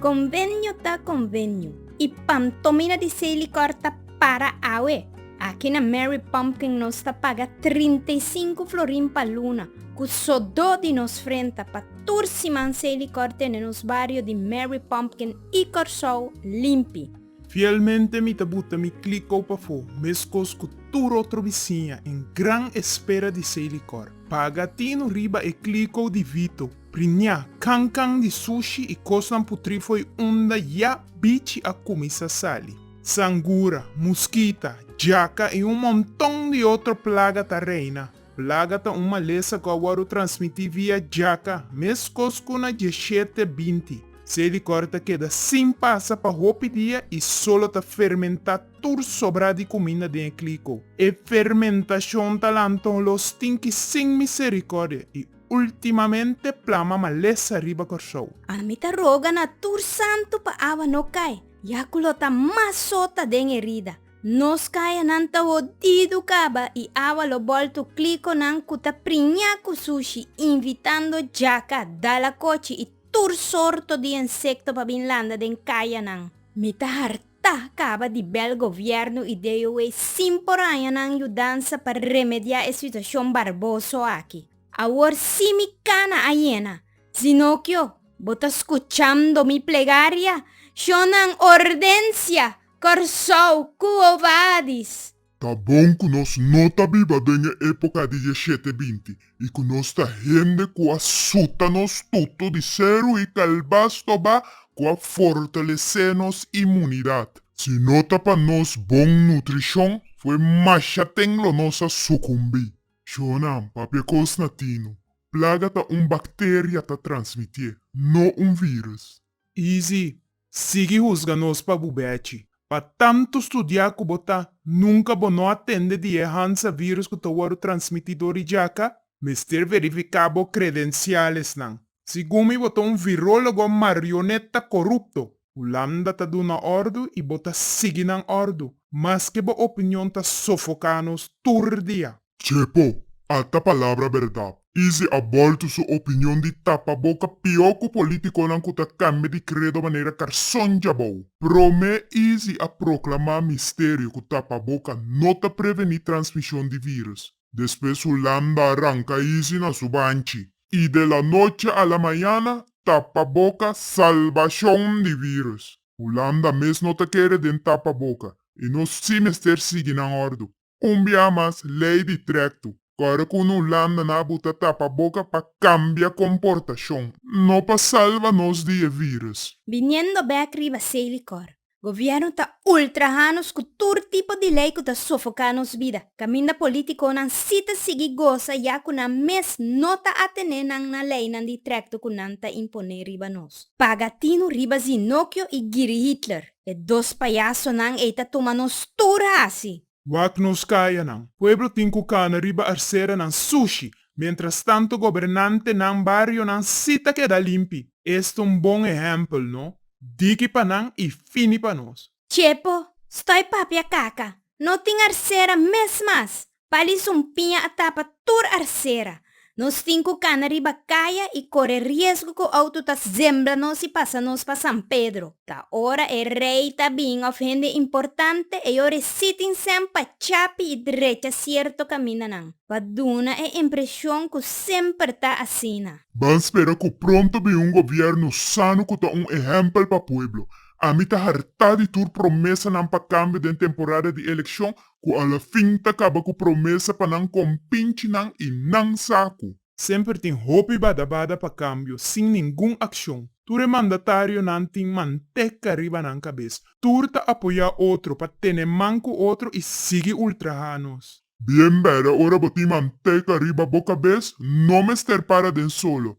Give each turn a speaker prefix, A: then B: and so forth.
A: Convenio ta convenio y pantomina di seis licor ta para awe. Aki na Mary Pumpkin nos ta paga 35 florin pa luna cu sodo di nos frenta pa tur siman seis licor tene nos bario di Mary Pumpkin y Corsou limpi. Fielmente mi ta buta mi klikau pafó, meskos ku tur otro bisiña, en gran espera di se likor. Paga tinu riba e klikau di Vito, priñá, kan kan di sushi i kosnan putrí fo'i unda ya bichi a kuminsá sali. Sangura, muskita, jaka i un monton di otro plaga ta reina. Plaga ta un malesa ku a wòrdu transmití via jaka, meskos ku na diashete binti. Se likòr ta keda sin pasa pa hopi dia i solo ta fermentá tur sobrá di kuminda den e kliko. E fermentashon ta lant'on los tinki sin miserikòrdia i ultimamente plama malesa riba Kòrsou. Ami ta roga na tur santu pa awa no kai, ya ku lo ta mas sota den erida. Nos kayanan ta hodidu kaba i awa lo boltu klikonan ku ta priñá ku sushi, invitando jaka, dalakochi i tur sorto di ensekto pa bin landa den kayanan. Mi ta hartá kaba di bèl gobièrnu i DOE sin por haña nan yudansa pa remediá e situashon barboso aki. Awor sí mi kana a yena. Zinokio, bo ta skuchando mi plegaria? Shonnan ordensia! Kòrsou, Kuo Badis. Ta bon ku nos no ta biba den e époka di e shete binti i ku nos ta hende ku a suta nos tutu di seru i kalbas tobá ku a fortalesé nos imunidat. Si no ta pa nos bon nutrishon, fue masha ten lo nos a sukumbí. Shonam, papia kos na tinu. Plaga ta un bakteria ta transmitié, no un vírùs. Easy, Sigui husga nos pa bu bechi. Pa tantu studia ku bo ta, nunka bo no a tende di e Hansa virus ku ta wòrdu transmití dor di jaka? Mester verifiká bo kredensialesnan. Segun mi bo ta un virólogo marioneta korupto. Hulanda ta duna òrdu i bo ta sigui nan òrdu, maske bo opinion ta sofoká nos tur dia. Chepo, ata palabra berdad. Easy a bolto su opinion di tapa boca pio cu politiconan cu ta cambia di credo manera carson djabou. Prome Easy a proclama misterio cu tapa boca no ta preveni transmision di virus. Despues su landa a ranca Easy na su banchi. Y de la noche a la mañana tapa boca salbacion di virus. Hulanda mes no ta kere den tapa boca y nos si mester sigui nan ordo. Un bia mas lei di trekto. Kore ku no landa na bo ta tapa boka pa kambia komportashon. No pa salva nos di e vírùs. Biniendo bèk riba esei likor, gobièrnu ta ultrahá nos ku tur tipo di lei ku ta sofoká nos bida, kaminda polítikonan sí ta sigui gosa ya ku nan mes no ta atené nan na leinan di trekto ku nan ta imponé riba nos. Paga tinu riba Zinokio i Giri Hitler. E dos payasonan ei ta tuma nos tur hasi. Wak nos kayanan. Pueblo tin ku kana riba arseranan sushi, mientras tanto gobernantenan barionan si ta keda limpi. Esto un bon ehempel, no? Diki pa nan i fini pa nos. Chepo, stoi papia kaka. No tin arsera mes mas. Pali su un piña a tapa tur arsera. Nos tin cu cana riba caya y core riesgo cu auto ta zembla nos y pasa nos pa San Pedro. Ta ora e rey ta bin of hende importante, e yo reci tin sen pa chapi y drecha cierto camina nan, pa duna e impresion cu semper ta asina. Ban spera cu pronto bin un gobierno sano cu ta un ehempel pa pueblo. Ami ta harta di tur promesanan pa cambio den temporada di eleccion ku alafin ta kaba ku promesa pa nan kompinchi nan i nan sa ku. Semper tin hopi bada bada pa kambio sin ningun akshon. Tur e mandatarionan tin manteka riba nan kabes. Tur ta apoyá otro pa tene man ku otro i sigui ultrahá nos. Bien bèda ora bo tin manteka riba bo kabes, no mester para den solo.